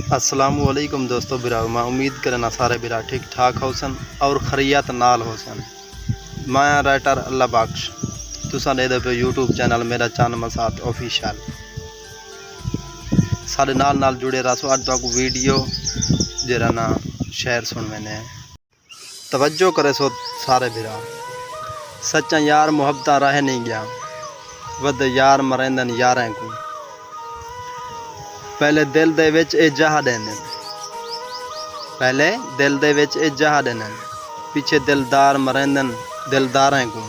السلام علیکم دوستو براو میں امید کرنا سارے برا ٹھیک ٹھاک ہوسن اور خریت نال ہوسن میں رائٹر اللہ بخش تساں دے دے پہ یوٹیوب چینل میرا چند مسات آفیشل سارے نال نال جڑے رہسو اج تک ویڈیو جرا نا شعر سن میں نے توجہ کریسو سارے بھرا۔ سچاں یار محبتاں رہ نئیں گیا۔ ودے یار مریندن یاریں کوں۔ پہلے دل دے وچ اے جاہ ڈیندن۔ پہلے دل دے وچ اے جاہ ڈیندن۔ پچھے دلدار مریندن دلداریں کوں۔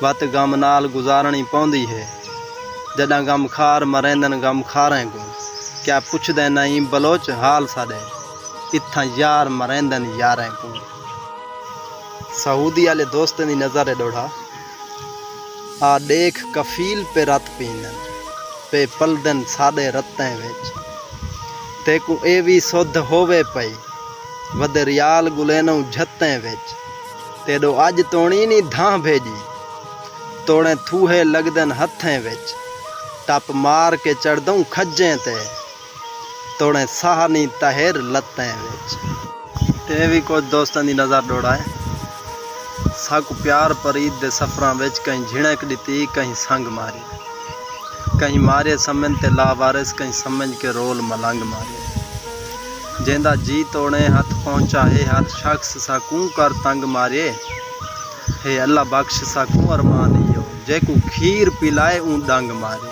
وت غم نال گزارنڑی پوندی ہے۔ جڈاں غمخار مریندن غمخاریں کوں۔ کیا پچھدے نئیں بلوچ حال ساڈے۔ اتھاں یار مریندن یاریں کوں سعودی آلے دوستیں دی نظر ہے ڈوڑھا آ ڈیکھ کفیل پے رت پیندن پے پلدن ساڈے رتیں وچ تیکوں اے وی سدھ ہووے پئی ودے ریال گلینوں جھتیں وچ تیڈو اج تونی نی دھاں بھیجی توڑیں تھوہے لگدن ہتھیں وچ ٹپ مار کے چڑھدوں کھجیں تے توڑیں ساہ نی تہر لتیں وچ۔ تے ایویں کجھ دوستاں دی نظر ڈوڑائے۔ ساکوں پیار پرید دے سفراں وچ کہیں جھنڑک ڈتی کہیں سنگ ماری۔ کہیں ماریے سمن تے لاوارث کہیں سمنج کے رول ملنگ ماریے۔ جیندا جی توڑیں ہتھ پہنچا ہے ہر شخص ساکوں کر تنگ ماریے۔ ہے اللہ بخش ساکوں ارمان ایہو جیکوں کھیر پلائے اوں ڈنگ ماریے۔